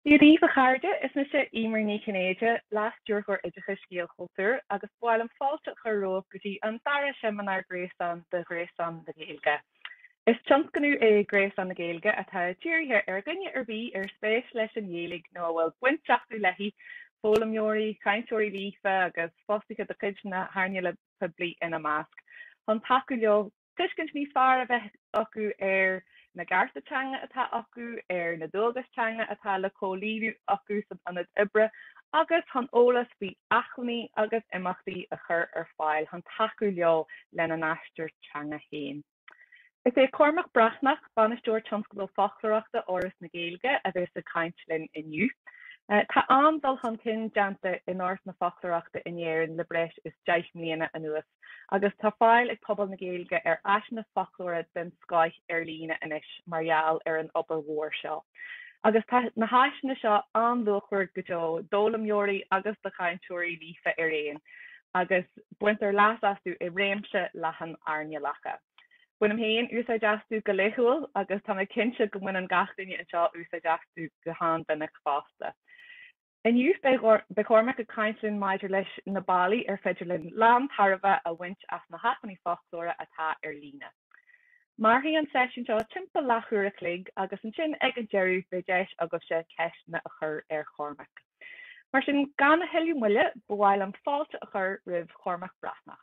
Dia daoibh, a chairde, is mise Emer Ní Chinnéide, Leas-Stiúrthóir Oideachais Gaelchultúr, agus b'áil liom fáilte a chur romhaibh go dtí an dara seimineár gréasáin de Ghréasán na Gaeilge. Is tionscnamh é Gréasán na Gaeilge atá dírithe ar dhuine ar bith ar spéis leis an nGaeilge nó a bhfuil baint acu léi, foghlaimeoirí, cainteoirí líofa agus fostaithe de chuid na hearnála poiblí ina measc, chun tacú leo tuiscint níos fearr a bheith acu ar na gcearta teanga atá acu, ar na dualgais teanga atá le comhlíonadh acu san ionad oibre agus chun eolas faoi acmhainní agus imeachtaí a chur ar fáil chun tacú leo lena n-aistear teanga féin. Is é Cormac Breathnach, Bainisteoir Tionscadal Foclóireachta Fhoras na Gaeilge a bhéas ag caint linn inniu. Tá an-dul chun cinn déanta in áras na foclóireachta in Éirinn le breis is deich mbliana anuas. agus tá fáil ag pobal na Gaeilge ar áiseanna foclóra den scoith ar líne anois mar gheall ar an obair mhór seo. Agus tá na háiseanna seo an-luachmhar go deo d'fhoghlaimeoirí agus do chainteoirí líofa araon, agus baintear leas astu i réimse leathan earnálacha. Bainim féin úsáid astu go laethúil agus tá mé cinnte go mbaineann gach duine anseo úsáid astu go han-mhinic fosta. Inniu, beidh Cormac ag caint linn maidir leis na bealaí ar féidir linn lántairbhe a bhaint as na hacmhainní foclóra atá ar líne. Mairfidh an seisiún seo timpeall leathuair a chloig agus ansin ag an deireadh beidh deis agaibhse ceisteanna a chur ar Chormac. Mar sin, gan a thuilleadh moille, b'áil liom fáilte a chur roimh Chormac Breathnach.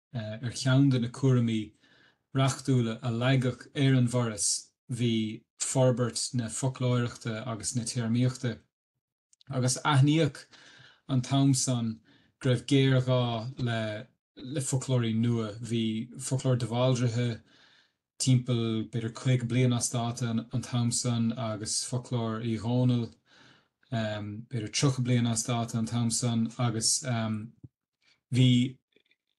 Ar cheann de na cúraimí reachtúla a leagadh ar an bhForas bhí forbairt na foclóireachta agus na téarmaíochta agus aithníodh an t-am san go raibh géarghá le foclóirí nua. Bhí Foclóir De Bhaldraithe timpeall b'fhéidir 50 bliain as dáta an t-am san agus Foclóir Uí Dhónaill b'fhéidir 30 bliain as dáta an t-am san agus. Bhí,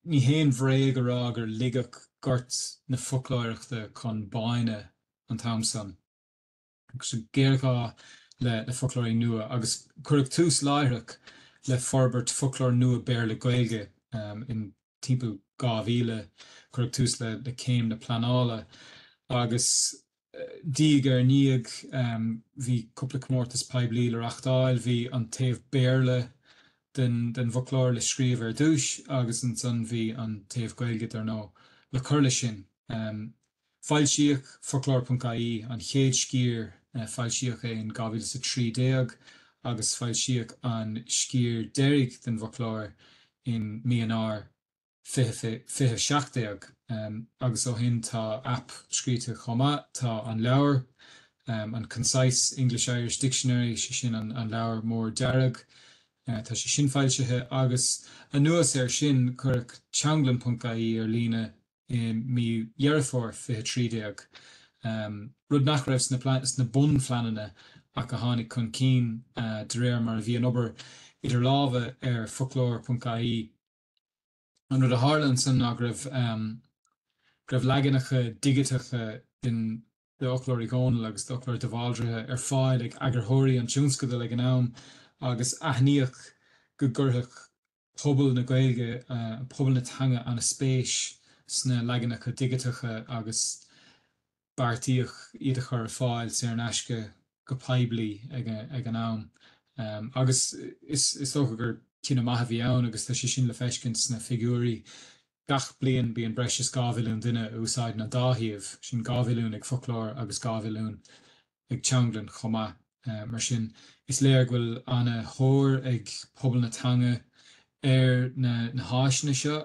ní haon bhréag a rá gur ligeadh gort na foclóireachta chun báine an t-am san. Agus géarghá le foclóirí nua agus cuireadh tús láithreach le forbairt foclóir nua Béarla-Gaeilge in timpeall 2000. Cuireadh tús le céim na pleanála agus. Diaidh ar ndiaidh bhí cúpla comórtas poiblí le reachtáil. Bhí an taobh Béarla den bhfoclóir le scríobh ar dtúis agus ansan bhí an taobh Gaeilge, dar ndóigh, le cur leis sin. Foilsíodh Foclóir.ie, an chéad sciar, foilsíodh é in 2013 agus foilsíodh an sciar deiridh den bhfoclóir in mí Eanáir. 20, 17, agus ó shin tá aip scríte chomh maith. Tá an leabhar, an Concise English-Irish Dictionary, sé sin an leabhar mór dearg, tá sé sin foilsithe agus anuas air sin cuireadh teanglann.ie ar líne i mí Dheireadh Fómhair 20, 13, rud nach raibh sna bunphleananna ach a tháinig chun cinn de réir mar a bhí an obair idir lámha ar foclóir.ie. An rud a tharla ansan ná go raibh go raibh leaganacha digiteacha den d'Fhoclóir Uí Dhónaill agus d'Fhoclóir De Bhaldraithe ar fáil ag eagarthóirí an tionscadail ag an am agus aithníodh go gcuirfeadh pobal na Gaeilge, pobal na teanga ana-spéis sna leaganacha digiteacha agus. beartaíodh iad a chur ar fáil saor in aisce go poiblí ag an am agus is dócha gur cinneadh maith a bhí ann agus tá sé sin le feiscint sna figiúirí. Gach bliain bíonn breis is dhá mhilliún duine a úsáideann an dá shuíomh, sin dhá mhilliún ag Foclóir agus dhá mhilliún ag teanglann chomh maith. Mar sin, is léir go bhfuil ana thóir ag pobal na teanga ar na na háiseanna seo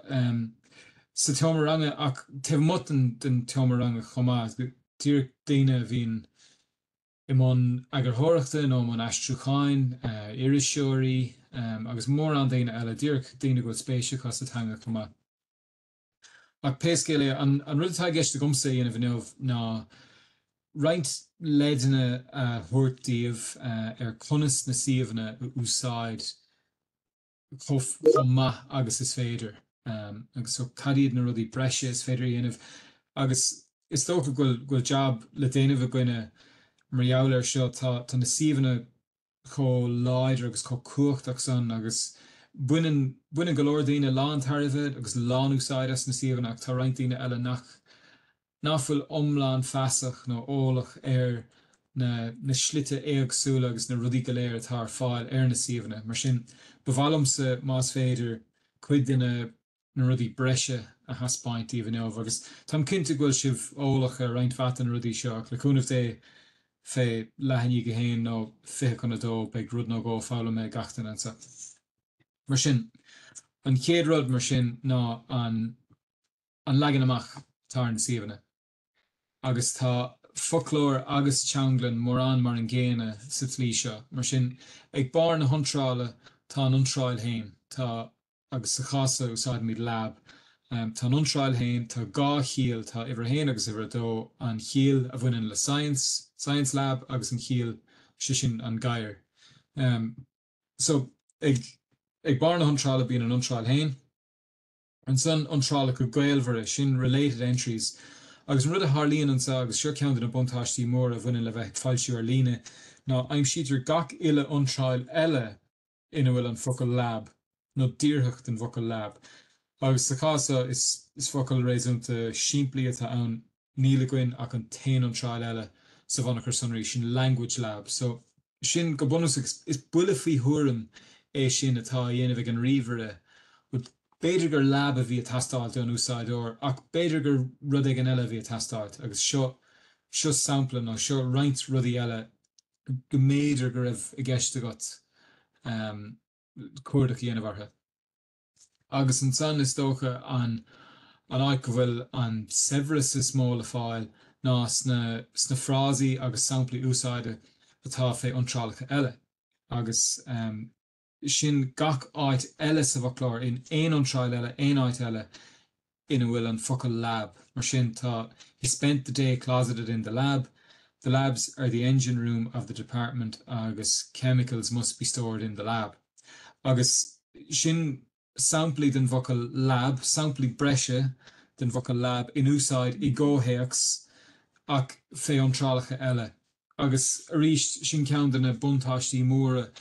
sa tseomra ranga ach taobh amuigh den tseomra ranga chomh maith. Díreach daoine a bhíonn i mbun eagarthóireachta nó i mbun aistriúcháin, iriseoirí agus mórán daoine eile, díreach daoine go bhfuil spéis acu sa teanga chomh maith. Ach pé scéal é, an rud atá i gceist agamsa a dhéanamh inniu ná roinnt leideanna a thabhairt daoibh ar conas na suíomhanna a úsáid chomh maith agus is féidir. Agus so cad iad na rudaí breise is féidir a dhéanamh? Agus is dócha go bhfuil jab le déanamh againne mar gheall air seo. Tá na suíomhanna chomh láidir agus chomh cumhachtach san agus baineann, baineann go leor daoine lántairbhe agus lánúsáid as na suíomhanna ach tá roinnt daoine eile nach, nach bhfuil iomlán feasach nó eolach ar na, na slite éagsúla agus na rudaí go léir atá ar fáil ar na suíomhanna. Mar sin, ba mhaith liomsa, más féidir, cuid de na. na rudaí breise a thaispeáint daoibh inniu agus táim cinnte go bhfuil sibh eolach ar roinnt mhaith de na rudaí seo ach le cúnamh Dé fé leath i ndiaidh a 1 nó 20 chun a 2 beidh rud nó dhó foghlamtha ag gach duine anso. Mar sin, an chéad rud mar sin ná an an leagan amach, atá ar na suíomhanna. agus tá foclóir agus teanglann mórán mar an gcéanna sa tslí seo. Mar sin, ag barr na hiontrála tá an iontráil féin, tá, agus sa chás seo úsáidimid lab, tá an iontráil féin, tá dhá chiall, tá uimhir a haon agus uimhir a dó, an chiall a bhaineann le science, science lab, agus an chiall, sé sin, an gadhar. So, ag barr na hiontrála bíonn an iontráil féin. Ansan, iontrálacha gaolmhara, sin related entries. Agus an rud a tharlaíonn anseo, agus seo ceann de na buntáistí móra a bhaineann le bheith ag foilsiú ar líne, ná aimsítear gach uile iontráil eile ina bhfuil an focal lab, nó díorthach den bhfocal lab. Agus sa chás seo, is focal réasúnta simplí atá ann. níl againn ach an t-aon iontráil eile sa bhunachar sonraí, sin Language Lab, so sin go bunúsach, is buille faoi thuairim é sin atá á dhéanamh ag an ríomhaire, bhuel, b'fhéidir gur lab a bhí ag teastáilt ón úsáideoir ach b'fhéidir gur rud éigin eile a bhí ag teastáilt agus seo, seo sampla nó seo roinnt rudaí eile go mb'fhéidir go raibh i gceist agat cuardach a dhéanamh orthu. Agus ansan, is dócha, an an áit go bhfuil an saibhreas is mó le fáil ná sna sna frásaí agus samplaí úsáide atá fé iontrálacha eile, agus sin gach áit eile sa bhfoclóir, in aon iontráil eile, aon áit eile. ina bhfuil an focal lab. Mar sin, tá He spent the day closeted in the lab, The labs are the engine room of the department agus Chemicals must be stored in the lab. Agus sin samplaí den bhfocal lab, samplaí breise den bhfocal lab in úsáid i gcomhthéacs ach fé iontrálacha eile. Agus arís, sin ceann de na buntáistí móra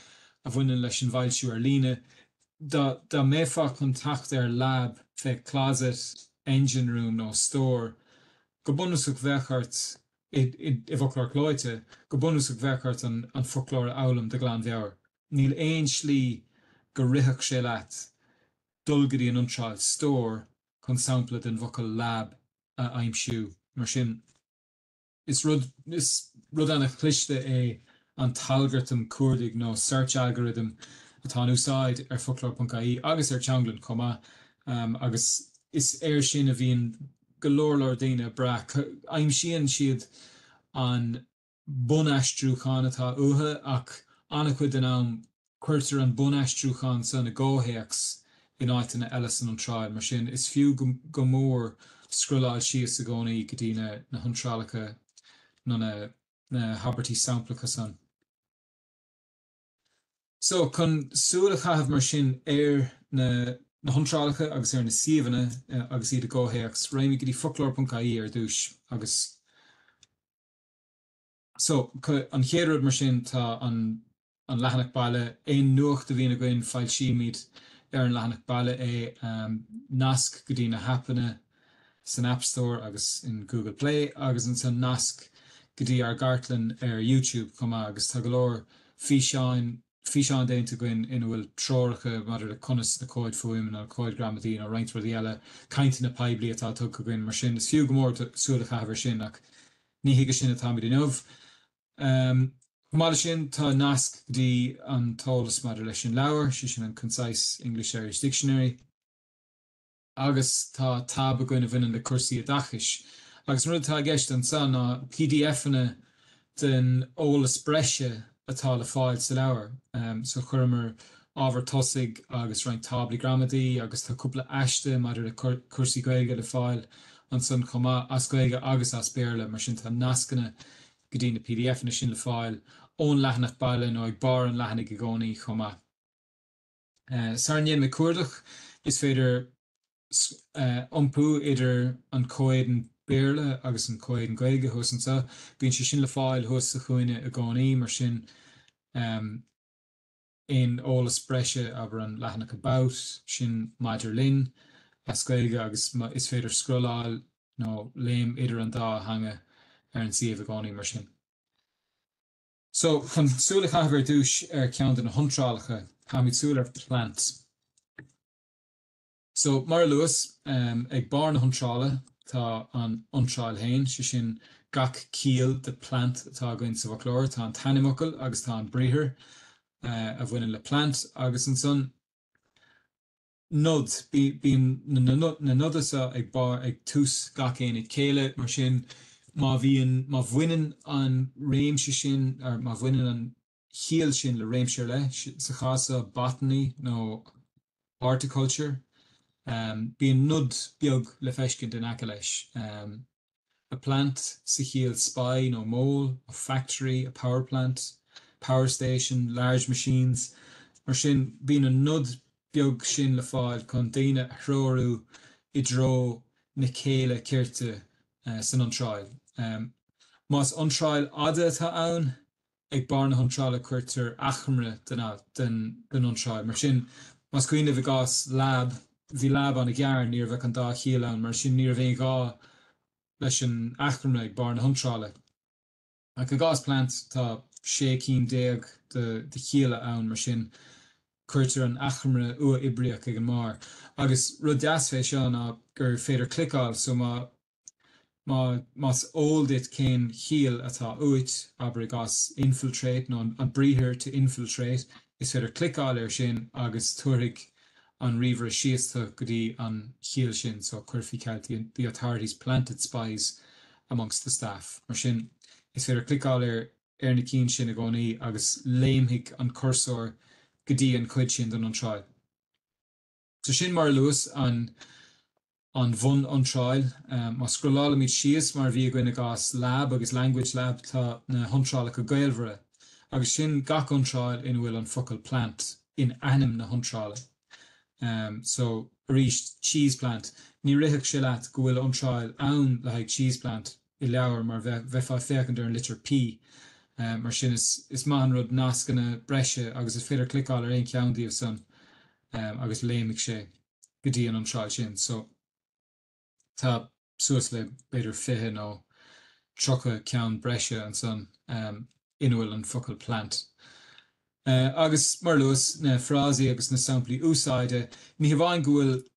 a bhaineann leis an bhfoilsiú ar líne. Dá dá mbeifeá chun teacht ar Lab, fé Closet, Engine Room nó Store, go bunúsach bheadh ort, i bhfoclóir clóite, go bunúsach bheadh ort an foclóir a fhoghlaim de ghlanmheabhair. Níl aon slí go rithfeadh sé leat dul go dtí an iontráil Store chun sampla den bhfocal Lab a aimsiú, mar sin. Is rud Is rud an-chliste é an t-algartam cuardaigh nó search algorithm atá in úsáid ar Foclóir.ie agus ar Teanglann chomh maith agus is air sin a bhíonn go leor leor daoine ag brath. Aimsíonn siad an bunaistriúchán atá uathu ach an-chuid den am, cuirtear an bunaistriúchán san i gcomhthéacs in áiteanna eile san iontráil, mar sin, is fiú go mór scrolláil síos i gcónaí go dtí na hiontrálacha nó na na habairtí samplacha san. So, chun súil a chaitheamh, mar sin, ar na na hiontrálacha agus ar na suíomhanna agus iad i gcomhthéacs, raghaimid go dtí foclóir.ie ar dtús agus. So, an chéad rud mar sin, tá an an leathanach baile, aon nuacht a bhíonn againn, foilsímid ar an leathanach baile é. Nasc go dtí na haipeanna san App Store agus in Google Play agus ansan nasc go dtí ár gcartlann ar YouTube chomh maith agus tá go leor físeáin, físeán déanta againn ina bhfuil treoracha maidir le conas na cóid fuaime nó na cóid gramadaí nó roinnt rudaí eile, cainteanna poiblí atá tugtha againn mar sin is fiú go mór duit súil a chaitheamh air sin ach ní chuige sin atáimid inniu. Chomh maith leis sin tá nasc go dtí an t-eolas maidir leis an leabhar, sé sin an Concise English-Irish Dictionary. agus tá táb againn a bhaineann le cúrsaí oideachais agus an rud atá i gceist ansan ná PDFanna den eolas breise atá le fáil sa leabhar. So chuireamar ábhar tosaigh agus roinnt táblaí gramadaí agus tá cúpla aiste maidir le cúrsaí Gaeilge le fáil ansan chomh maith, as Gaeilge agus as Béarla, mar sin tá nascanna go dtí na PDFanna sin le fáil ón leathanach baile nó ag barr an leathanaigh i gcónaí chomh maith. Sara ndéanaimid cuardach, is féidir iompú idir an comhéadan Béarla agus an comhéadan Gaeilge thuas anseo. Bíonn sé sin le fáil thuas sa chúinne i gcónaí, mar sin aon eolas breise, abair an leathanach About, sin Maidir Linn, as Gaeilge agus is féidir scrolláil nó léim idir an dá theanga ar an suíomh i gcónaí, mar sin. So, chun súil a chaitheamh ar dtús ar cheann de na hiontrálacha, caithfimid súil ar plant. So, mar a luas, ag barr na hiontrála tá an iontráil féin, sé sin gach ciall de plant atá againn sa bhfoclóir, tá an t-ainmfhocal agus tá an briathar a bhaineann le plant agus ansan, Nod, Bíonn na noda seo ag barr ag tús gach aonad céille, mar sin má bhíonn, má bhaineann an réimse sin, or má bhaineann an chiall sin le réimse ar leith, sa chás seo botany nó horticulture, bíonn nod beag le feiscint in aice leis. a plant sa chiall spy nó mole, a factory, a power plant, power station, large machines, mar sin bíonn an nod beag sin le fáil chun daoine a threorú i dtreo na céille cirte san iontráil. Más iontráil fhada atá ann, Ag barr na hiontrála cuirtear achoimre den, den iontráil. Mar sin, más cuimhin libh i gcás 'lab', bhí 'lab' ana-ghearr, ní raibh ach an dá chiall ann, mar sin ní raibh aon ghá leis an achoimre ag barr na hiontrála. Ach i gcás 'plant', tá sé cinn déag de chialla ann, mar sin cuirtear an achoimre uathoibríoch ag an mbarr. Agus rud deas fé seo ná gur féidir cliceáil, so má. Más eol duit cén chiall atá uait, abair i gcás infiltrate, nó an briathar to infiltrate, is féidir cliceáil air sin agus tabharfaidh an ríomhaire síos tú go dtí an chiall sin. So, cuir faoi cheilt, the authorities planted spies amongst the staff. Mar sin, is féidir cliceáil ar ar na cinn sin i gcónaí agus léimfidh an cúrsóir go dtí an chuid sin den iontráil. So sin mar a luas an an bhun-iontráil. Má scrollálaimid síos, mar a bhí againn i gcás Lab agus Language Lab, tá na hiontrálacha gaolmhara, agus sin gach iontráil ina bhfuil an focal plant in ainm na hiontrála. So, arís, cheese plant. Ní rithfeadh sé leat go bhfuil iontráil ann le haghaidh cheese plant. i leabhar, mar bheifeá ag féachaint ar an litir P. Mar sin, is maith an rud nascanna breise agus is féidir cliceáil ar aon cheann díobh san agus léimfidh sé go dtí an iontráil sin. So, tá suas le b'fhéidir fiche nó tríocha ceann breise ansan ina bhfuil an focal plant. Agus, mar a luas, na frásaí agus na samplaí úsáide, ní hamháin go bhfuil.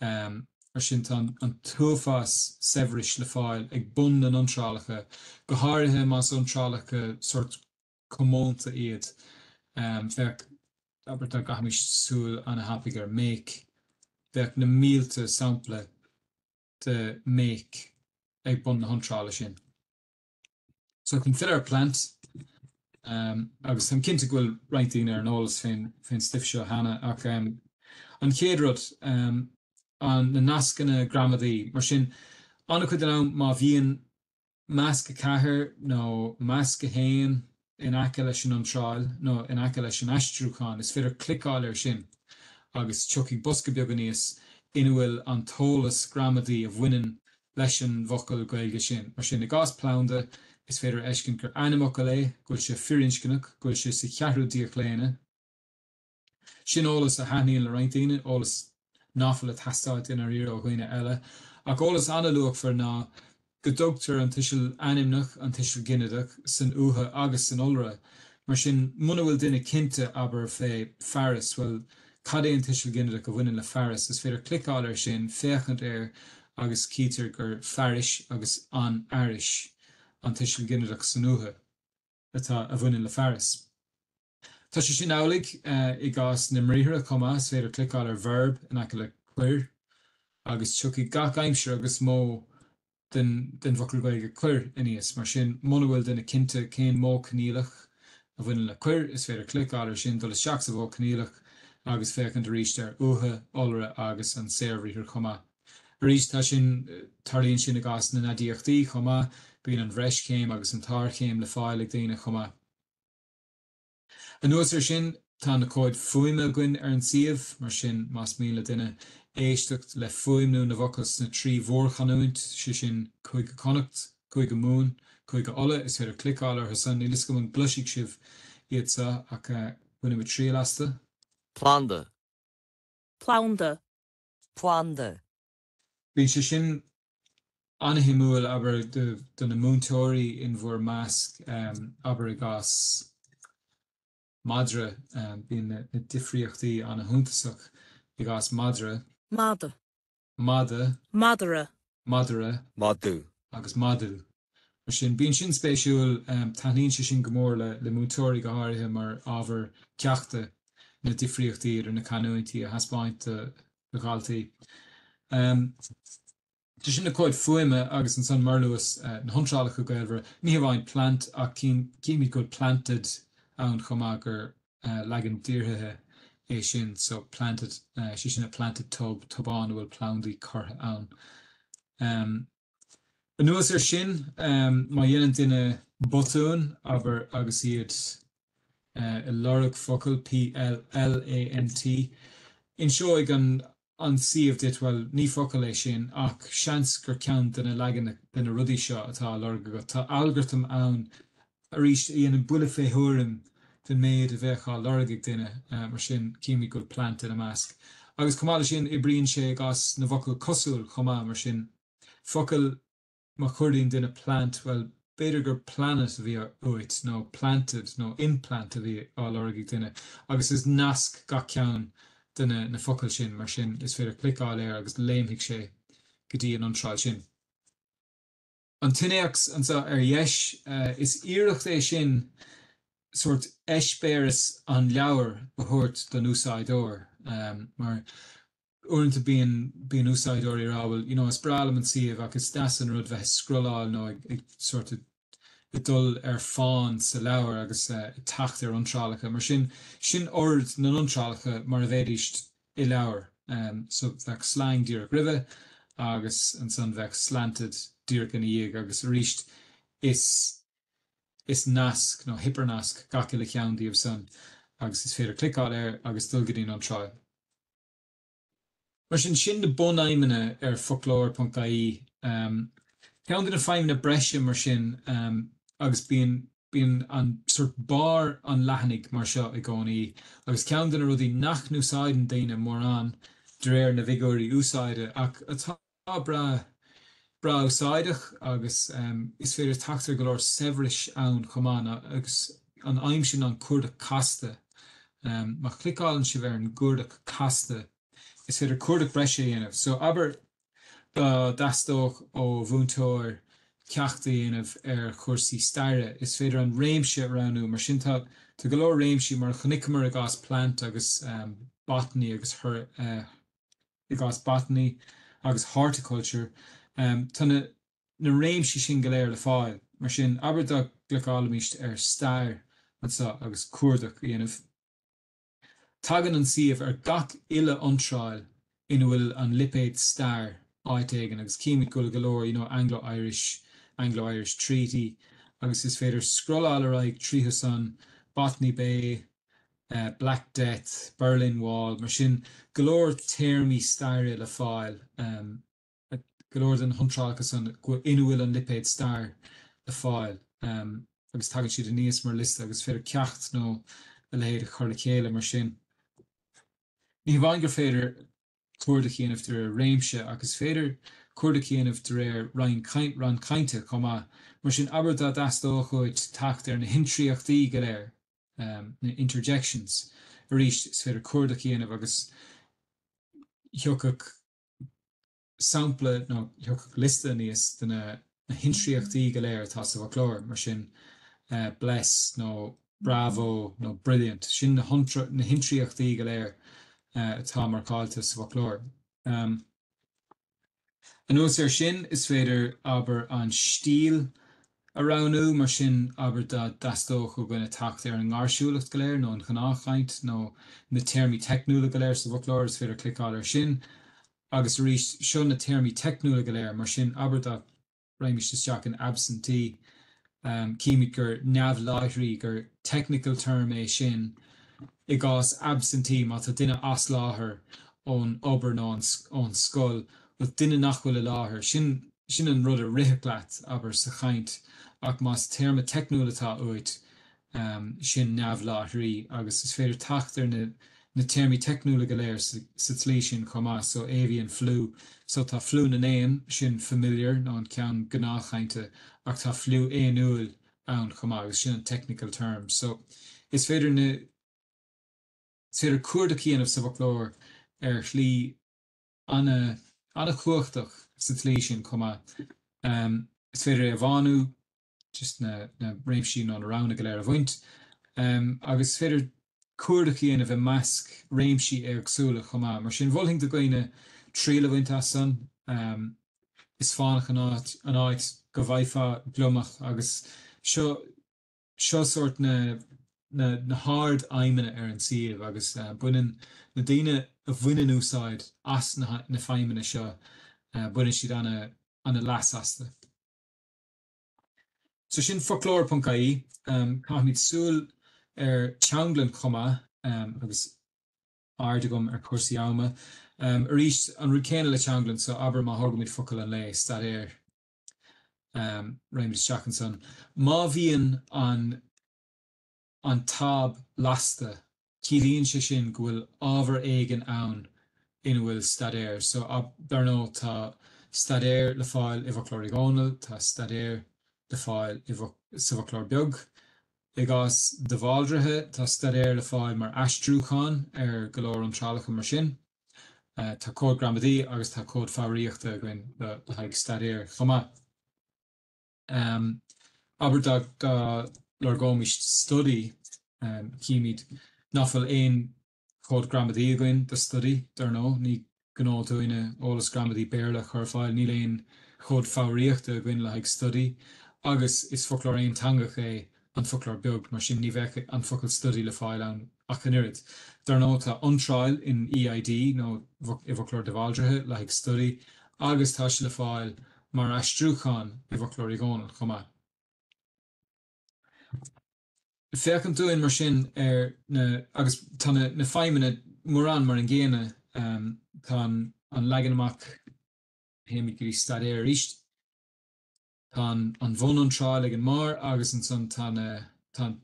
Mar sin, tá an t-uafás saibhris le fáil ag bun na n-iontrálacha, go háirithe más iontrálacha sórt comónta iad, féach, abair, dá gcaithfimis súil ana thapaidh ar Make, bheadh na mílte sampla de Make ag bun na hiontrála sin. So chun filleadh ar plant um, agus táim cinnte go bhfuil roinnt daoine ar an eolas fén stuif seo cheana ach um, an chéad rud um, an na nascanna gramadaí mar sin ana chuid den am má bhíonn masc a ceathair nó masc a haon in aice leis an iontráil nó in aice leis an aistriúchán, is féidir cliceáil air sin agus tiocfaidh bosca beag aníos ina bhfuil an t-eolas gramadaí a bhaineann leis an bhfocal Gaeilge sin. Mar sin, i gcás planda, is féidir a fheiscint gur ainmfhocal é, go bhfuil sé firinscneach, go bhfuil sé sa cheathrú díochlaonadh, Sin eolas a thaitníonn le roinnt daoine, eolas ná fuil ag teastáil i ndáiríre ó dhaoine eile. Ach eolas an-luachmhar ná go dtugtar an tuiseal ainmneach, an tuiseal ginideach, san uatha agus san iolra. Mar sin, muna bhfuil duine cinnte, abair, fé fearas, bhuel, cad é an tuiseal ginideach a bhaineann le fearas? Is féidir cliceáil air sin, féachaint air agus cítear gur fearais agus an fhearais an tuiseal ginideach san uatha. atá a bhaineann le fearas. Tá sé sin amhlaidh i gcás na mbriathra chomh maith, is féidir cliceáil ar verb in aice le cuir agus tiocfaidh gach aimsir agus modh den bhfocal Gaeilge cuir aníos. Mar sin, muna bhfuil duine cinnte cén modh coinníollach a bhaineann le cuir, is féidir cliceáil air sin, dul isteach sa mhodh coinníollach agus féachaint arís ar uatha, iolra agus an saorbhriathar chomh maith. Arís, tá sin, tarlaíonn sin i gcás na n-aidiachtaí chomh maith, bíonn an bhreischéim agus an tsárchéim le fáil ag daoine chomh maith. Anuas air sin, tá na comhaid fuaime againn ar an suíomh, mar sin más mian le duine éisteacht le fuaimniú na bhfocal sna trí mhórchanúint, sé sin, Cúige Connacht, Cúige Mumhan, Cúige Uladh, is féidir cliceáil orthu san, níl 'fhios agam an gcloisfidh sibh iad seo ach bainfimid triail astu. planda. planda. planda. Bíonn sé sin an-shuimiúil, abair, do na múinteoirí in bhur measc, abair, i gcás madra, bíonn na difríochtaí an-shuntasach i gcás madra. madadh. madadh. madra. madara. madadh. agus madadh. Mar sin, bíonn sin spéisiúil, taithníonn sé sin go mór le múinteoirí go háirithe mar ábhar ceachta, na difríochtaí idir na canúintí a thaispeáint do dhaltaí. Tá sin na comhaid fuaime agus ansan mar luas na hiontrálacha gaolmhara, ní hamháin plant ach címid go bhfuil planted ann chomh maith gur leagan díorthaithe é sin so planted, sé sin a planted tub, tobán a bhfuil plandaí curtha ann. Anuas air sin, má dhéanann duine botún, abair, agus iad ag lorg focal, PLAMT, inseoidh an an suíomh duit, bhuel, ní focal é sin, ach seans gur ceann de na leagan de na rudaí seo atá á lorg agat. Tá algartam ann Arís, a dhéanann buille fé thuairim den méid a bheadh á lorg ag duine, mar sin, címid go bhfuil plant ina measc. Agus chomh maith le sin, oibríonn sé i gcás na bhfocal cosúil chomh maith, mar sin, focal má chuardaíonn duine plant, bhuel, b'fhéidir gur planet a bhí uait, nó planted nó implant a bhí á lorg ag duine, agus is nasc gach ceann de na na focail sin, mar sin, is féidir cliceáil air agus léimfidh sé go dtí an iontráil sin. An t-innéacs anseo ar dheis, is iarracht é sin sórt eispéireas an leabhair a thabhairt don úsáideoir mar uaireanta bíonn úsáideoirí ag rá bhuel you know is breá liom an suíomh ach is deas an rud bheith ag scrolláil nó ag sórt ag dul ar fán sa leabhar agus ag teacht ar iontrálacha. Mar sin, sin ord na n-iontrálacha mar a bheidís i leabhar. So bheadh slang díreach roimhe agus ansan bheadh slanted díreach ina dhiaidh agus arís is is nasc nó hipearnasc gach uile cheann díobh san agus is féidir cliceáil air agus dul go dtí'n iontráil. Mar sin, sin na bunfheidhmeanna ar foclóir ponc ie, ceann de na feidhmeanna breise mar sin agus bíonn. Bíonn an sórt barr an leathanaigh mar seo i gcónaí agus ceann de na rudaí nach n-úsáideann daoine mórán, de réir na bhfigiúirí úsáide, ach atá breá breá úsáideach agus is féidir teacht ar go leor saibhris ann chomh maith agus an ainm sin an cuardach casta. Má chliceálann sibh ar an gcuardach casta is féidir cuardach breise a dhéanamh. So abair. Dá dteastódh ó mhúinteoir ceacht a dhéanamh ar chúrsaí staire, is féidir an réimse a roghnú. Mar sin, tá go leor réimsí, mar a chonaiceamar i gcás Plant agus Botany agus i gcás Botany agus Horticulture, tá na réimsí sin go léir le fáil. Mar sin, abair dá gcliceálfaimist ar Stair anseo agus cuardach a dhéanamh. Tagann an suíomh ar gach uile iontráil ina bhfuil an lipéad stair, áit éigin, agus chímid go bhfuil go leor, you know, Anglo-Irish, Anglo-Irish Treaty, agus is féidir scrolláil ar aghaidh tríothu san, Botany Bay, Black Death, Berlin Wall, mar sin go leor téarmaí staire le fáil. go leor de na hiontrálacha san ina bhfuil an lipéad stair le fáil agus tagann siad aníos mar liosta agus is féidir ceacht nó a leithéid a chur le chéile mar sin. Ní hamháin gur féidir cuardach a dhéanamh de réir réimse ach is féidir cuardach a dhéanamh de réir ranna cainte chomh maith. Mar sin, abair dá dteastódh uait teacht ar na hintriachtaí go léir, na interjections, arís is féidir cuardach a dhéanamh agus thiocfadh, sampla, nó thiocfadh liosta aníos de na na hintriachtaí go léir atá sa bhfoclóir, mar sin, bless nó bravo nó brilliant, sin na hintriachtaí go léir atá marcáilte sa bhfoclóir. Anuas air sin, is féidir, abair, an stíl a roghnú. Mar sin, abair dá dteastódh ó dhaoine teacht ar an ngáirsiúlacht go léir, nó an ghnáthchaint, nó na téarmaí teicniúla go léir sa bhfoclóir, is féidir cliceáil air sin agus arís, seo na téarmaí teicniúla go léir. Mar sin, abair dá raghaimist isteach an absentee, címid gur neamhláithrí, gur technical term é sin i gcás absentee, má tá duine as láthair ón obair nó ón scoil, bhuel, duine nach bhfuil i láthair, sin. Sin an rud a rithfeadh leat, abair, sa chaint, ach más téarma teicniúil atá uait, sin neamhláithrí, agus is féidir teacht ar na téarmaí teicniúla go léir sa tslí sin chomh maith, so, avian flu, so, tá fliú na n-éan, sin familiar, nó an ceann gnáthchainte, ach tá fliú éanúil ann chomh maith, agus sin an technical term. So, is féidir na, is féidir cuardach a dhéanamh sa bhfoclóir ar shlí, an-chumhachtach sa tslí sin chomh maith. Is féidir é a bhánú, just na réimsí nó na roghanna go léir a bhaint, agus is féidir cuardach a dhéanamh i measc réimsí éagsúla chomh maith. Mar sin, mholfainn do dhaoine triail a bhaint as san. Is fánach an áit go bhfaighfeá gliomach agus seo. Seo sórt na na hardfheidhmeanna ar an suíomh agus baineann na daoine a bhaineann úsáid as na na feidhmeanna seo, baineann siad ana leas astu. So sin Foclóir.ie. Caithfimid súil ar teanglann chomh maith agus aird agam ar chúrsaí ama. Arís, an rud céanna le teanglann, so abair má thógaimid focal an lae, staidéar réimid isteach ansan. Má bhíonn an an táb lasta, ciallaíonn sé sin go bhfuil ábhar éigin ann ina bhfuil staidéar. So, dar ndóigh, tá staidéar le fáil i bhFoclóir Uí Dhónaill, tá staidéar le fáil i sa bhFoclóir Beag. I gcás de Bháldraithe, tá staidéar le fáil mar aistriúchán ar go leor iontrálacha mar sin. Tá cód gramadaí agus tá cód foghraíochta againn le haghaidh staidéar chomh maith. Abair dá lorgóimis study, chímid nach bhfuil aon chód gramadaí againn do study, dar ndóigh, ní gnó dúinne eolas gramadaí Béarla a chur ar fáil, níl aon chód foghraíochta againn le haghaidh study, agus is foclóir aonteangach é An Foclóir Beag, mar sin ní bheadh an focal study le fáil ann. ach an oiread. Dar ndóigh, tá iontráil in EID nó i bhFoclóir De Bhaldraithe le haghaidh Study agus tá sé le fáil mar aistriúchán i bhFoclóir Uí Dhónaill chomh maith. Féachaint dúinn mar sin ar. agus tá na feidhmeanna mórán mar an gcéanna. Tá an leagan amach. théimis go dtí Staidéar arís. Tá an bhuniontráil ag an mbarr agus ansan tá an.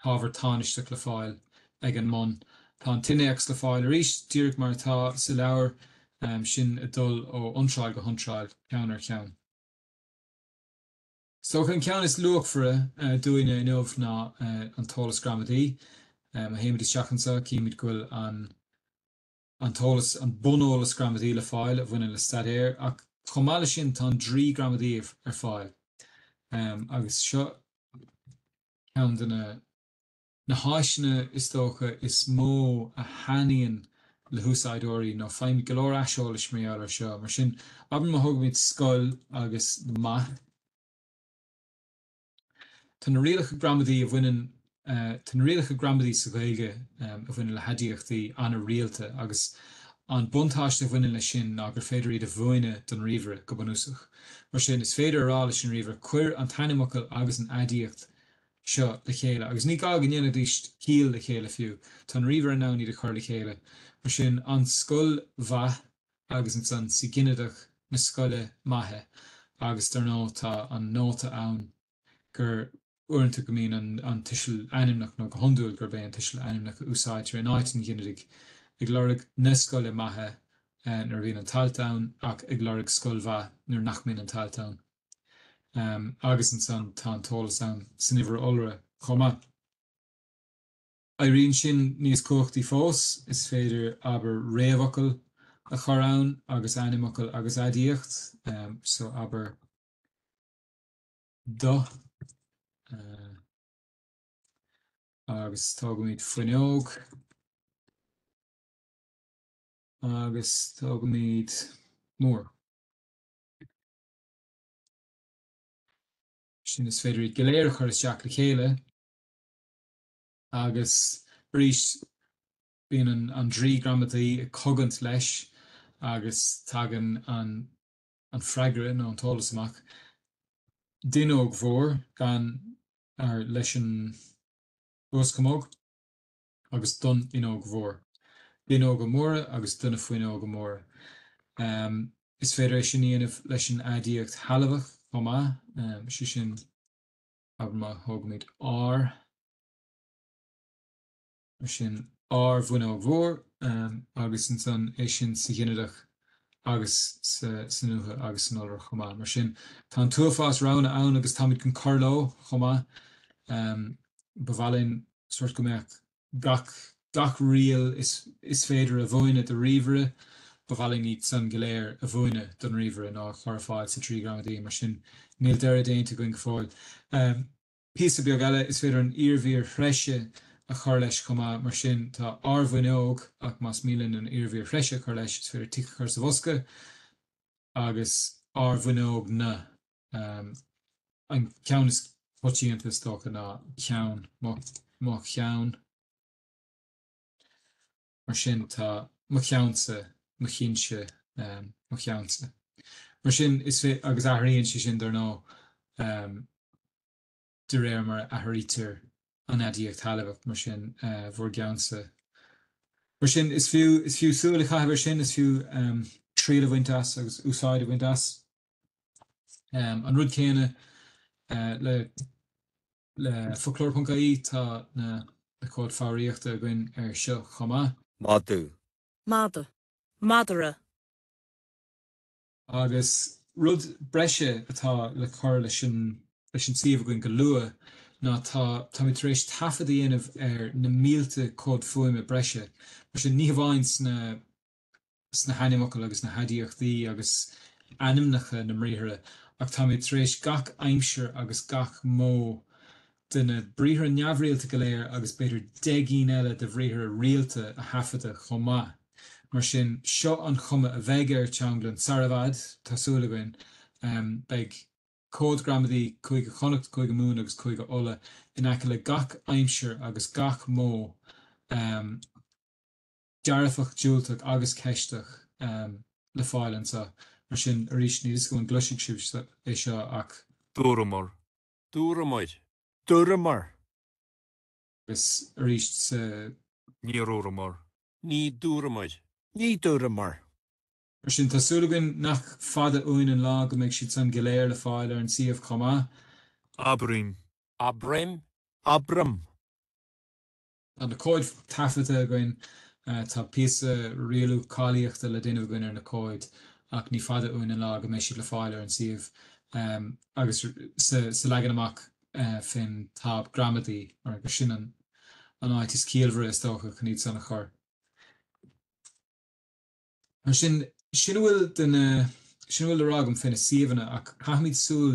t-ábhar tánaisteach le fáil ag an mbun. Tá an t-innéacs le fáil arís díreach mar atá sa leabhar, sin ag dul ó iontráil go hiontráil, ceann ar cheann. Is dócha an ceann is luachmhaire dúinne inniu ná an t-eolas gramadaí. Má théimid isteach anseo, címid go bhfuil an. an t-eolas, an buneolas gramadaí le fáil a bhaineann le staidéar ach chomh maith leis sin tá an draoi gramadaí ar fáil agus seo ceann de na na háiseanna is dócha is mó a thaitníonn le húsáideoirí nó faighimid go leor aiseolais mar gheall air seo. Mar sin, abair má thógaimid scoil agus maith. Tá na rialacha gramadaí a bhaineann Tá na rialacha gramadaí sa Ghaeilge a bhaineann le haidiachtaí an-rialta agus an buntáiste a bhaineann leis sin ná gur féidir iad a mhúineadh don ríomhaire, go bunúsach. Mar sin, is féidir a rá leis an ríomhaire, 'Cuir an t-ainmfhocal agus an aidiacht seo le chéile, agus ní gá go ndéanfaidís ciall le chéile fiú, tá an ríomhaire in ann iad a chur le chéile. Mar sin, an scoil mhaith. agus ansan sa Ghinideach na Scoile Maithe agus dar ndóigh tá an nóta ann gur uaireanta go mbíonn an tuiseal ainmneach nó go hiondúil gurb é an tuiseal ainmneach a úsáidtear in áit an ghinidigh, ag lorg na scoile maithe nuair a bhíonn an t-alt ann ach ag lorg scoil mhaith nuair nach mbíonn an t-alt ann. Agus ansan tá an t-eolas ann san uimhir iolra chomh maith. Éiríonn sin níos cumhachtaí fós, is féidir, abair, réamhfhocal a chur ann agus ainmfhocal agus aidiacht, so abair do, agus tógaimid fuinneog, agus tógaimid mór. Mar sin is féidir iad go léir a chur isteach le chéile. Agus arís, bíonn an draoi gramadaí ag cogaint leis agus tagann an freagra nó an t-eolas amach, d'fhuinneog mhór gan fearr leis an uaschamóg agus don fhuinneog mhór, d'fhuinneoga móra agus do na fuinneoga móra. Is féidir é sin a dhéanamh leis an aidiacht shealbhach chomh maith, sé sin. Abair má thógaimid ár, mar sin, ár bhfuinneog mhór agus ansan é sin sa ghinideach agus san uatha agus san iolra chomh maith. Mar sin, tá an t-uafás roghanna ann agus táimid chun cur leo chomh maith. Ba mhaith linn sórt go mbeadh. gach gach riail is féidir a mhúineadh do ríomhaire, ba mhaith linn iad san go léir a mhúineadh don ríomhaire nó a chur ar fáil sa draoi gramadaí, mar sin níl deireadh déanta againn go fóill. Píosa beag eile, is féidir an iarmhír threise a chur leis chomh maith, mar sin tá ár bhfuinneog ach más mian linn an iarmhír threise a chur leis is féidir tic a chur sa bhosca agus ár bhfuinneogna. An ceann is coitianta, is dócha, ná ceann, mo cheann. Mar sin, tá mo cheannsa, mo chinnse, mo cheannsa. Mar sin, is fé, agus athraíonn sé sin, dar ndóigh, de réir mar a athraítear an aidiacht shealbhach, mar sin, bhur gceannsa. Mar sin, is fiú is fiú súil a chaitheamh air sin, is fiú triail a bhaint as agus úsáid a bhaint as. An rud céanna le le Foclóir.ie, tá na na comhaid foghraíochta againn air seo chomh maith. madadh. mada. madra. Agus rud breise atá le cur leis an leis an suíomh againn go luath ná tá táimid tar éis taifead a dhéanamh ar na mílte comhad fuaime breise mar sin ní hamháin sna sna hainmfhocail agus na haidiachtaí agus ainmneacha na mbriathra, ach táimid tar éis gach aimsir agus gach modh de na briathra neamhrialta go léir agus b'fhéidir deich gcinn eile de bhriathra rialta a thaifeadadh chomh maith. Mar sin, seo an chuma a bheidh ar Teanglann sar i bhfad, tá súil againn. Beidh. Comhaid Ghramadaí Chúige Chonnacht, Chúige Mumhan agus Chúige Uladh in aice le gach aimsir agus gach modh. dearfach, diúltach agus ceisteach le fáil anseo. Mar sin arís, níl a fhios agam an gcloisfidh sibh é seo ach. dúramar. dúirt muid. dúramar. agus arís sa. níor dhúramar. ní dúirt muid. ní dúramar. Mar sin, tá súil againn nach fada uainn an lá go mbeidh siad san go léir le fáil ar an suíomh chomh maith. Abraim. Abraim. Abraim. Tá na comhaid taifeadta againn. Tá píosa rialú cáilíochta le déanamh againn ar na comhaid ach ní fada uainn an lá go mbeidh siad le fáil ar an suíomh agus sa leagan amach fén táb gramadaí mar gur sin an áit is ciallmhaire is dócha chun iad san a chur. Mar sin, sin a bhfuil de na, sin a bhfuil le rá agam fé na suíomhanna ach caithfimid súil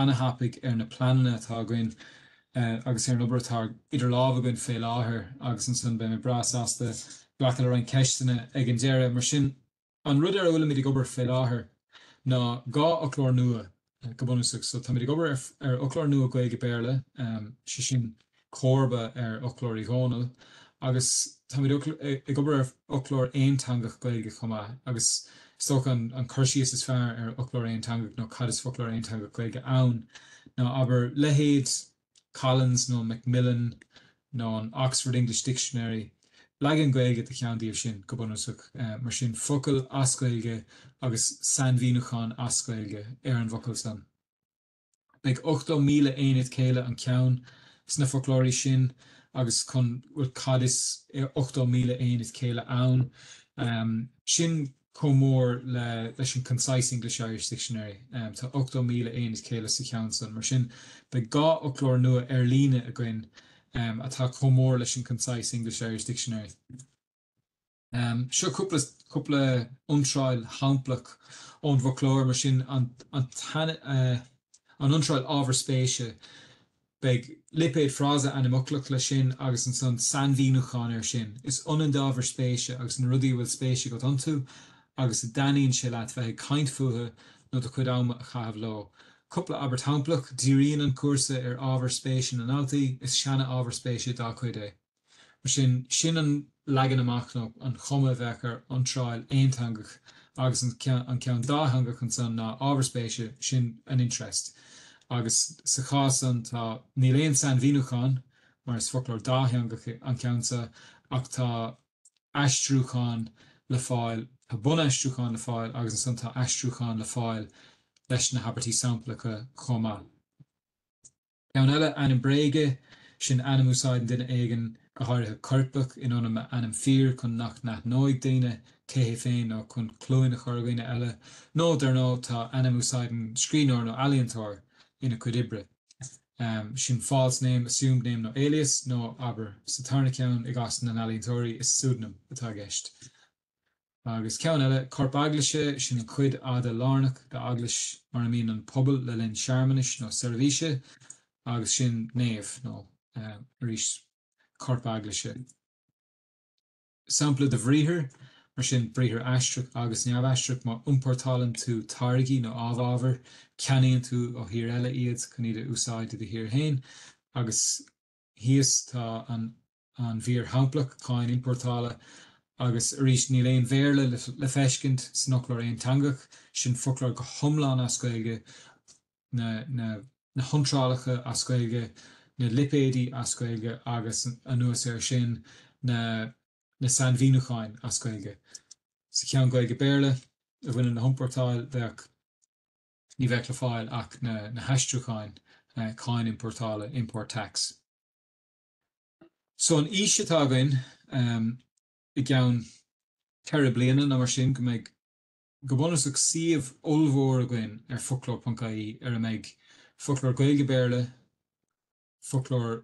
ana-thapaidh ar na pleananna atá againn agus ar an obair atá idir lámha againn fé láthair agus ansan beidh mé breá sasta glacadh le roinnt ceisteanna ag an deireadh. Mar sin, an rud ar a bhfuilimid ag obair fé láthair ná dhá fhoclóir nua Go bunúsach, so táimid ag obair ar fhoclóir nua Gaeilge-Béarla, sé sin comharba ar Fhoclóir Uí Dhónaill, agus táimid ag obair ar fhoclóir aonteangach Gaeilge chomh maith. Agus is dócha an cur síos is fearr ar fhoclóir aonteangach nó cad is foclóir aonteangach Gaeilge ann ná, abair, leithéid Collins nó Macmillan nó an Oxford English Dictionary, leagan Gaeilge de cheann díobh sin, go bunúsach. Mar sin, focal as Gaeilge agus sainmhíniúchán as Gaeilge ar an bhfocal san. Beidh 80,000 aonad céille an ceann sna foclóirí sin agus chun, bhuel, cad is 80,000 aonad céille ann? Sin. chomh mór le leis an Concise English-Irish Dictionary. Tá 80,000 aonad céille sa cheann san. Mar sin, beidh dhá fhoclóir nua ar-líne againn atá chomh mór leis an Concise English-Irish Dictionary. Seo cúp cúpla iontráil shamplach ón bhfoclóir, mar sin, an an iontráil Ábhar Spéise, Beidh lipéad frása ainmfhoclach leis sin agus ansan sainmhíniúchán air sin. Is ionann d'ábhair spéise agus na rudaí a bhfuil spéis agat iontu agus a dtaitníonn sé leat bheith ag caint fúthu nó do chuid ama a chaitheamh leo. Cúpla abairt shamplach, Díríonn an cúrsa ar ábhair spéise na ndaltaí, is seana-ábhar spéise dá gcuid é. Mar sin, sin an leagan amach nó an chuma a bheadh ar iontráil aonteangach agus an ceann dátheangach ansan ná ábhar spéise, sin an interest. Agus sa chás san tá, níl aon sainmhíniúchán mar is foclóir dátheangach an ceann san ach tá aistriúchán le fáil, tá bunaistriúchán le fáil agus ansan tá aistriúchán le fáil leis na habairtí samplacha chomh maith. Ceann eile, ainm bréige, sin ainm a úsáideann duine éigin, go háirithe coirpeach, in ionad a ainm fíor chun nach n-aithneoidh daoine cé hé féin nó chun cluain a chur ar dhaoine eile, nó dar ndóigh tá ainm a úsáideann scríbhneoir nó ealaíontóir ina chuid oibre, sin false name, assumed name nó alias, nó abair, sa tarna ceann, i gcás na n-ealaíontóirí, is pseudonym atá i gceist. Agus ceann eile, Corp Eaglaise, sin an chuid fhada lárnach d'eaglais mar a mbíonn an pobal le linn searmanais nó seirbhíse, agus sin nave, nó arís Corp Eaglaise. Sampla de bhriathar, mar sin, briathar aistreach agus neamhaistreach, má iompórtálann tú táirgí nó amhábhair, ceannaíonn tú ó thír eile iad chun iad a úsáid i do thír féin, agus. thíos tá an mhír shamplach, Cáin Iompórtála, agus arís níl aon Bhéarla le feiscint san fhoclóir aonteangach, sin foclóir go hiomlán as Gaeilge, na hiontrálacha as Gaeilge, na lipéidí as Gaeilge agus anuas air sin na sainmhíniúcháin as Gaeilge. Sa cheann Gaeilge-Béarla a bhaineann le hiompórtáil bheadh. ní bheadh le fáil ach na haistriúcháin, cáin iompórtála, import tax. So an fhís atá againn i gceann ceithre bliana nó mar sin go mbeidh go bunúsach suíomh ollmhór againn ar foclóir.ie ar a mbeidh foclóir Gaeilge-Béarla, foclóir.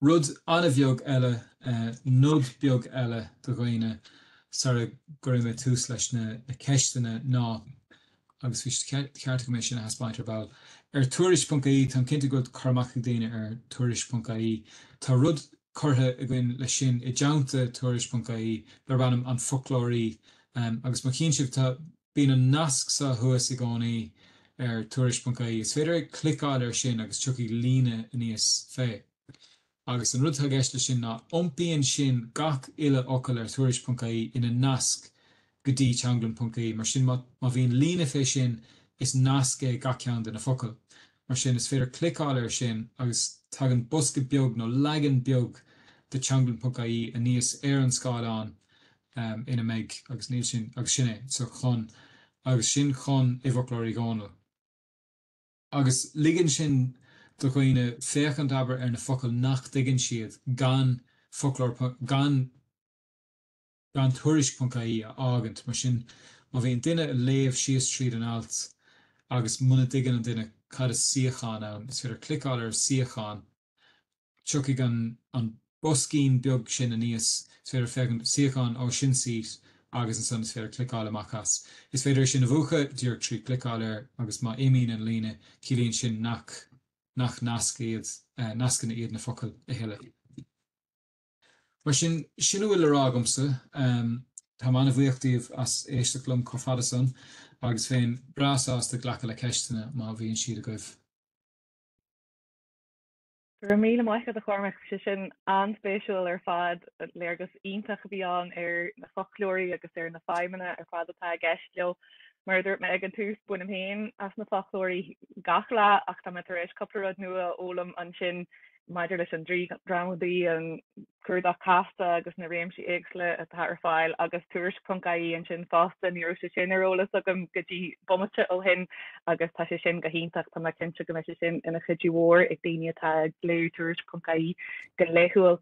Rud an-bheag eile, nod beag eile do dhaoine sar a gcuirfidh mé tús leis na ceisteanna ná, agus bhí sé ceart agam é sin a thaispeáint ar ball, ar Tuairisc.ie, táim cinnte go bhfuil cur amach ag daoine ar Tuairisc.ie, tá rud curtha againn leis sin i dteannta Tuairisc.ie darb ainm An Foclóirí agus má chíonn sibh tá, Bíonn an nasc seo thuas i gcónaí ar Tuairisc.ie. Is féidir cliceáil air sin agus tiocfaidh líne aníos fé. Agus an rud atá i gceist le sin ná iompaíonn sin gach uile fhocal ar Tuairisc.ie ina nasc go dtí Teanglann.ie. Mar sin má bhíonn líne fé sin is nasc é gach ceann de na focail. Mar sin is féidir cliceáil air sin agus tagann bosca beag nó leagan beag de Teanglann.ie aníos ar an scáileán um, ina mbeidh, agus níl sin, agus sin é. So, chun, agus sin chun, i bhFoclóir Uí Dhónaill. Agus ligeann sin do dhaoine féachaint, abair, ar na focail nach dtuigeann siad gan foclóir, gan, gan Tuairisc.ie a fhágaint. Mar sin, má bhíonn duine a' léamh síos tríd an alt agus muna dtuigeann an duine cad is suíochán ann, is féidir cliceáil ar suíochán, Tiocfaidh an an boscaín beag sin aníos, is féidir féachaint, suíochán, ó sin seat agus ansan is féidir cliceáil amach as. Is féidir é sin a mhúchadh díreach trí chliceáil air agus má imíonn an líne ciallaíonn sin nach nach nascanna iad na focail a thuilleadh. Mar sin, sin a bhfuil le rá agamsa. Tá mé an-bhuíoch díbh as éisteacht liom chomh fada san agus bheinn breá sásta glacadh le ceisteanna má bhíonn siad agaibh. Go raibh míle maith agat a Chormaic, sé sin an-spéisiúil ar fad. Léargas iontach a bhí ann ar na foclóirí agus ar na feidhmeanna ar fad atá i gceist leo. Mar a dúirt mé ag an tús, bainim féin as na foclóirí gach lá ach tá mé tar éis cúpla rud nua a fhoghlaim ansin maidir leis an Draoi Gramadaí, an cuardach casta agus na réimsí éagsúla atá ar fáil agus Tuairisc.ie ansin fosta ní raibh sé sin ar eolas agam go dtí bomaite ó shin agus tá sé sin go hiontach tá mé cinnte go mbeidh sé sin ina chuidiú mhór ag daoine atá ag léamh Tuairisc.ie go laethúil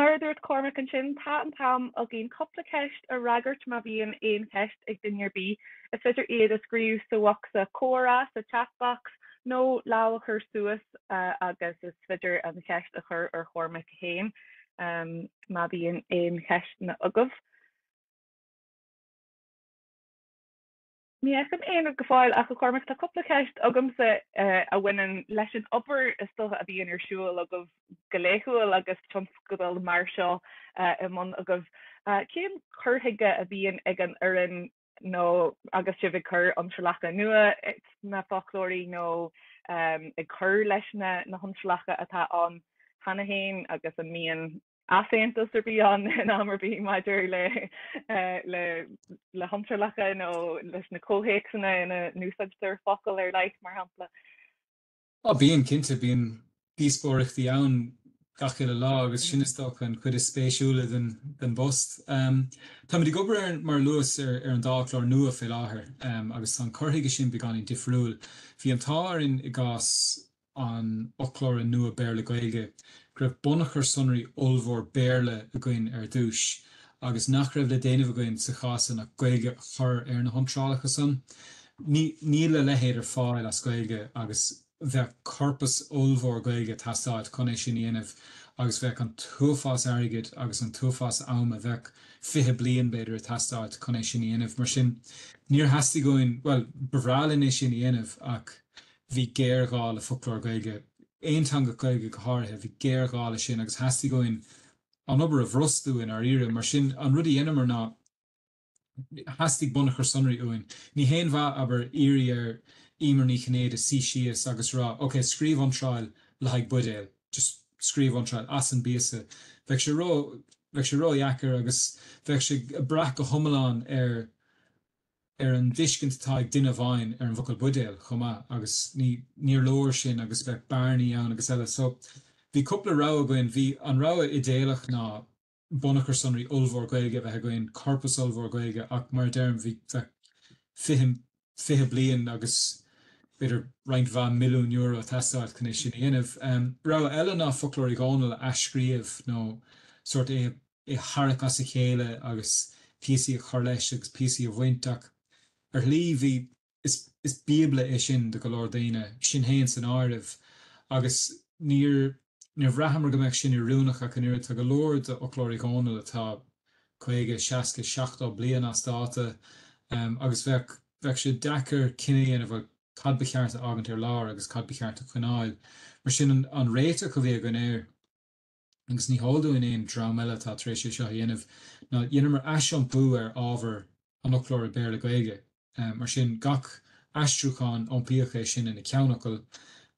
mar a dúirt Cormac ansin tá an t-am againn cúpla ceist a fhreagairt má bhíonn aon cheist ag duine ar bith is féidir iad a scríobh sa bhocsa comhrá sa chat box nó lámh a chur suas agus is féidir an cheist a chur ar Chormac. féin. Má bhíonn aon cheisteanna agaibh. Ní fheicim aon rud go fóill ach, a Chormaic, tá cúpla ceist agamsa a bhaineann leis an obair is dócha a bhíonn ar siúl agaibh go laethúil agus tionscadal mar seo i mbun agaibh. Cén cur chuige a bhíonn ag an fhoireann nó agus sibh ag cur iontrálacha nua sna foclóirí nó ag cur leis na hiontrálacha atá ann cheana féin agus an mbíonn easaontas ar bith ann in am ar bith maidir le hiontrálacha nó leis na comhthéacsanna ina n-úsáidtear focal ar leith mar shampla. Á, bíonn, cinnte. Bíonn díospóireachtaí ann gach uile lá agus sin, is dócha, an chuid is spéisiúla den bpost. Tá muid ag obair ar, mar a luas, ar an dá fhoclóir nua fé láthair agus tá an cur chuige ansin beagáinín difriúil. Bhí an t-ádh orainn i gcás an fhoclóra nua Béarla-Gaeilge go raibh bunachar sonraí ollmhór Béarla againn ar dtúis agus nach raibh le déanamh againn sa chás san ach Gaeilge a chur ar na hiontrálacha san. Níl a leithéid ar fáil as Gaeilge agus bheadh corpas ollmhór Gaeilge ag teastáilt chun é sin a dhéanamh agus bheadh an t-uafás airgid agus an t-uafás ama, bheadh fiche bliain, b'fhéidir, ag teastáilt chun é sin a dhéanamh. Mar sin, níor theastaigh uainn, bhuel, ba bhreá linn é sin a dhéanamh ach bhí géarghá le foclóir Gaeilge, aonteangach Gaeilge go háirithe, bhí géarghá leis sin agus theastaigh uainn, an obair a bhrostú i ndáiríre. Mar sin, an rud a dheineamar ná, theastaigh bunachar sonraí uainn. Ní haon mhaith, abair, iarraidh ar Éimear Ní Chinnéide suí síos agus a rá, OK, scríobh iontráil le haghaidh buidéal. Just scríobh iontráil, as an bpíosa. Bheadh sé ró, bheadh sé ró-dheacair agus bheadh sé ag brath go hiomlán ar, ar an dtuiscint atá ag duine amháin ar an bhfocal buidéal chomh maith, agus ní níor leor sin agus bheadh bearnaí ann agus eile. So bhí cúpla rogha againn. Bhí an rogha idéalach ná bunachar sonraí ollmhór Gaeilge a bheith againn, corpas ollmhór Gaeilge ach mar a deirim bhí bheadh fiche, fiche bliain agus b'fhéidir roinnt mhaith milliún euro a teastáilt chun é sin a dhéanamh. Rogha eile ná Foclóir Uí Dhónaill a athscríobh nó sórt é a é a tharrac as a chéile agus píosaí a chur leis agus píosaí a bhaint, ach ar shlí bhí, is, is bíobla é sin do go leor daoine, sinn fhéin san áireamh, agus níor, níor bhraitheamar go mbeadh sin oiriúnach ach an oiread, tá go leor d'fhoclóir Uí Dhónaill atá caoga, seasca, seachtó bliain as dáta agus bheadh, bheadh sé deacair cinneadh a dhéanamh ar cad ba cheart a fhágaint ar lár agus cad ba cheart a choinneáil. Mar sin an, an réiteach a bhí againn ar. agus ní heol dúinn aon dream eile atá tar éis é seo a dhéanamh, ná dheineamar aisiompú ar ábhar an fhoclóra Béarla-Gaeilge. Mar sin, gach aistriúchán, iompaíodh é sin ina ceannfhocal,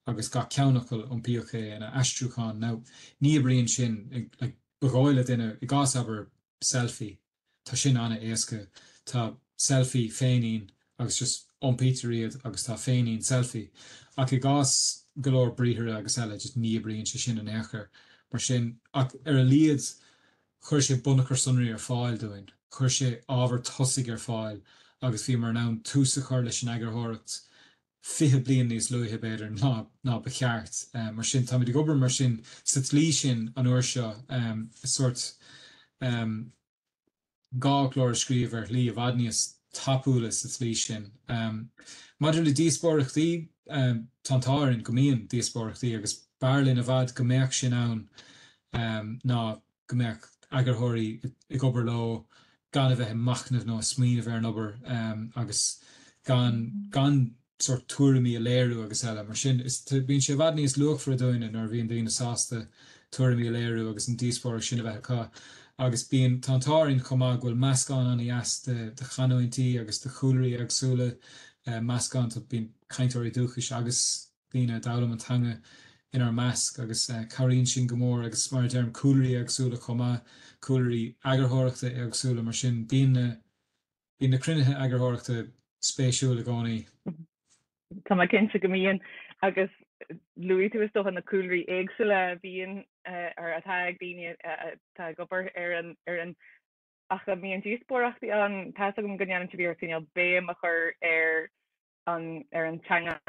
agus gach ceannfhocal, iompaíodh é ina aistriúchán. Now, ní oibríonn sin, ba dhóigh le duine, i gcás, abair, selfie. Tá sin an-éasca. Tá selfie féinín agus just iompaítear iad agus tá féinín selfie. Ach i gcás go leor briathra agus eile, just ní oibríonn sé sin in aon chor. Mar sin, ach ar a laghad chuir sé bunachar sonraí ar fáil dúinn, chuir sé ábhar tosaigh ar fáil agus bhíomar in ann tús a chur leis an eagarthóireacht 20 bliain níos luaithe, b'fhéidir, ná ba cheart. Mar sin, táimid ag obair mar sin sa tslí sin an uair seo, sórt dhá fhoclóir a scríobh ar shlí i bhfad níos tapúla sa tslí sin. Maidir le díospóireachtaí, tá an t-ádh orainn go mbíonn díospóireachtaí agus b'fhearr linn i bhfad go mbeadh sin ann ná go mbeadh eagarthóirí ag obair leo gan a bheith ag machnamh nó ag smaoineamh ar an obair agus gan gan sórt tuairimí a léiriú agus eile mar sin is bíonn sé i bhfad níos luachmhaire dúinne nuair a bhíonn daoine sásta tuairimí a léiriú agus an díospóireacht sin a bheith acu agus bíonn tá an t-ádh orainn chomh maith go bhfuil meascán an-deas de de chanúintí agus de chúlraí éagsúla meascán tá bíonn cainteoirí dúchais agus daoine a d'fhoghlaim an teanga inár measc agus cabhraíonn sin go mór agus mar a deirim cúlraí éagsúla chomh maith, cúlraí eagarthóireachta éagsúla mar sin bíonn na bíonn na cruinnithe eagarthóireachta spéisiúil i gcónaí. Tá mé cinnte go mbíonn agus luaigh tú is dócha na cúlraí éagsúla a bhíonn ar atá ag daoine atá ag obair ar an ar an ach a mbíonn díospóireachtaí ann, tá's agam go ndéanann sibh iarracht cineál béim a chur ar ar an teanga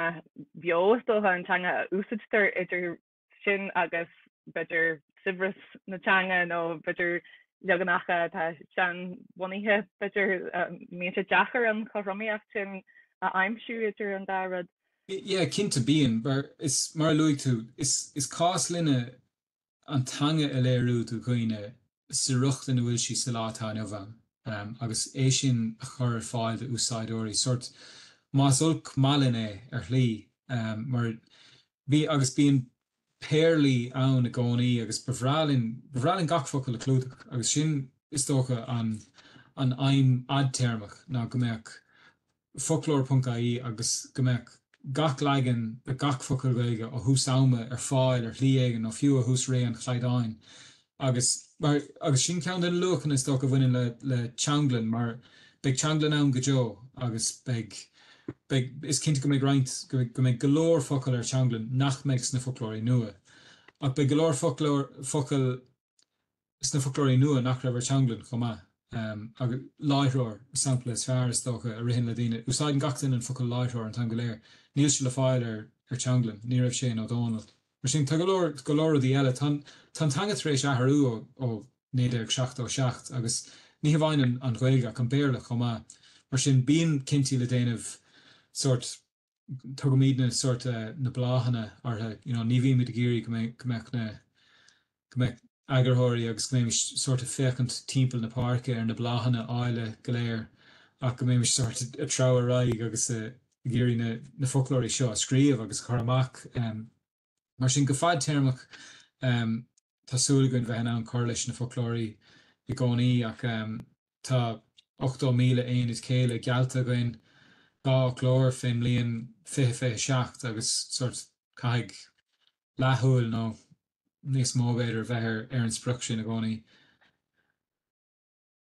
bheo, is dócha, an teanga a úsaidtear idir sin agus b'fhéidir saibhreas na teanga nó b'fhéidir leaganacha atá seanbhunaithe, b'fhéidir. Mbíonn sé deacair an chothromaíocht sin a aimsiú idir an dá rud. Yeah, cinnte bíonn. But is mar a luaigh tú, is cás linne an teanga a léiriú do dhaoine sa riocht ina bhfuil sí sa lá atá inniu ann agus é sin a chur ar fáil d'úsáideoirí, sórt, más olc maith linn é, ar shlí, mar bhí agus bíonn péarlaí ann i gcónaí agus ba bhreá linn, ba bhreá linn gach focal a chlúdach agus sin is dócha an an aidhm fhadtéarmach ná go mbeadh foclóir.ie agus go mbeadh gach leagan de gach focal Gaeilge ó thús ama ar fáil ar shlí éigin nó fiú ó thús ré an chaighdeáin agus mar agus sin ceann de na luachanna is dócha a bhaineann le le teanglann mar beidh teanglann ann go deo agus beidh beidh is cinnte go mbeidh roinnt go go mbeidh go leor focal ar teanglann nach mbeidh sna foclóirí nua ach beidh go leor foclóir focal sna foclóirí nua nach raibh ar Teanglann chomh maith agus láithreoir, sampla is fearr is dócha, a ritheann le daoine. Úsáideann gach duine an focal láithreoir an t-am go léir. Níl sé le fáil ar ar Teanglann, ní raibh sé in Ó Dónaill. Mar sin, tá go leor go leor rudaí eile. Tá tá an teanga tar éis athrú ó ó 1977 agus ní hamháin an Ghaeilge ach an Béarla chomh maith. Mar sin, bíonn cinntí le déanamh sórt. Tugaimid na sórt, na bláthanna orthu, you know, ní bhímid ag iarraidh go mbeadh na, go mbeadh eagarthóirí agus go mbeimis sórt ag féachaint timpeall na páirce ar na bláthanna áille go léir ach go mbeimis sórt ag treabhadh ar aghaidh agus ag iarraidh na foclóirí seo a scríobh agus a chur amach. Mar sin, go fadtéarmach, tá súil againn bheith in ann cur leis na foclóirí i gcónaí ach tá 80,000 aonad céille geallta againn, dhá fhoclóir fén mbliain 2027 agus sórt, caithfidh leathshúil, nó níos mó, b'fhéidir, a bheith ar an sprioc sin i gcónaí.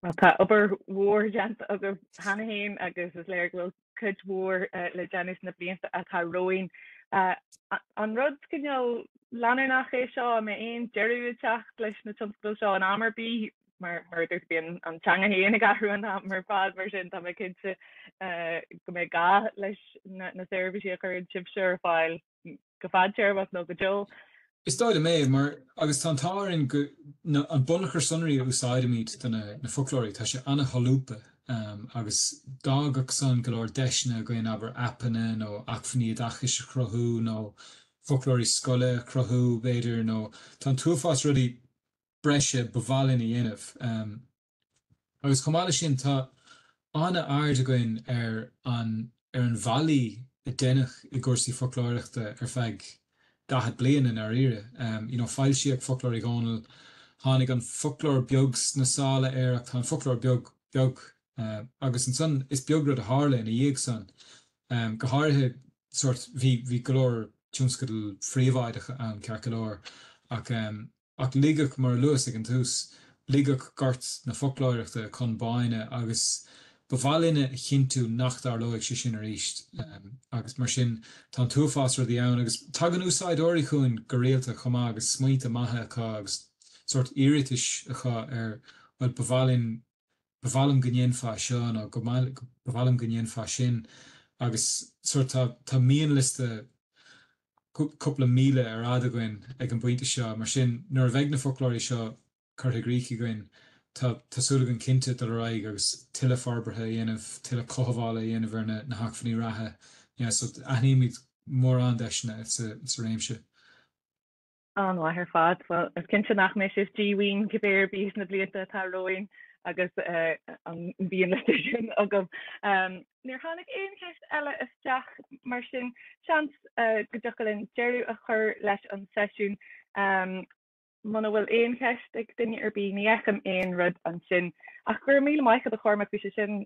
Bhuel, tá obair mhór déanta agaibh cheana féin agus is léir go bhfuil cuid mhór le déanamh sna blianta atá romhainn. An rud cineál leanúnach é seo? An mbeidh aon deireadh ag teacht leis na tionscadail seo in am ar bith? Mar a dúirt, bíonn an teanga féin ag athrú an t-am ar fad, mar sin tá mé cinnte go mbeidh gá leis na seirbhísí a chuireann sibhse ar fáil. go fadtéarmach nó go deo. Is dóigh liom é, mar, agus tá an t-ádh orainn go, na, an bunachar sonraí a úsáidimid do na, na foclóirí, tá sé ana-sholúbtha agus d'fhágfadh san go leor deiseanna againn, abair, aipeanna nó acmhainní oideachais a chruthú nó foclóirí scoile a chruthú, b'fhéidir, nó tá an t-uafás rudaí breise ba mhaith linn a dhéanamh. Agus chomh maith leis sin, tá an-aird againn ar an ar an bhfaillí a deineadh i gcúrsaí foclóireachta ar feadh daichead bliain i ndáiríre. You know foilsíodh Foclóir Uí Dhónaill, tháinig An Foclóir Beag sna sála air, ach tá An Foclóir Beag beag agus ansan is beag rud a tharla ina dhiaidh san. Go háirithe sórt bhí bhí go leor tionscadail phríobháideacha ann ceart go leor ach, Ach ligeadh, mar a luas ag an tús, ligeadh gort na foclóireachta chun báin agus ba mhaith linne a chinntiú nach dtarlóidh sé sin arís agus mar sin tá an t-uafás rudaí ann agus tagann úsáideoirí chugainn go rialta chomh maith agus smaointe maithe acu agus sórt iarratais acu ar rud ba mhaith linn Ba mhaith liom go ndéanfá seo nó go Ba mhaith liom go ndéanfá sin agus sórt tá, tá mianliosta cúpla míle ar fhad againn ag an bpointe seo, mar sin nuair a bheidh na foclóirí seo curtha i gcrích againn, tá, tá súil againn cinnte dul ar aghaidh agus tuilleadh forbartha a dhéanamh, tuilleadh cothabhála a dhéanamh ar na, na hacmhainní reatha. Yeah, so aithnímid mórán deiseanna sa, sa réimse. An-mhaith ar fad. Bhuel, is cinnte nach mbeidh sé díomhaoin cibé ar bith sna blianta atá romhainn agus an bhíonn le seisiún againn. Níor tháinig aon cheist eile isteach mar sin seans go dtiocfadh linn deireadh a chur leis an seisiún. Muna bhfuil aon cheist ag duine ar bith, ní fheicim aon rud ansin. Ach go raibh míle maith agat a Chormaic, bhí sé sin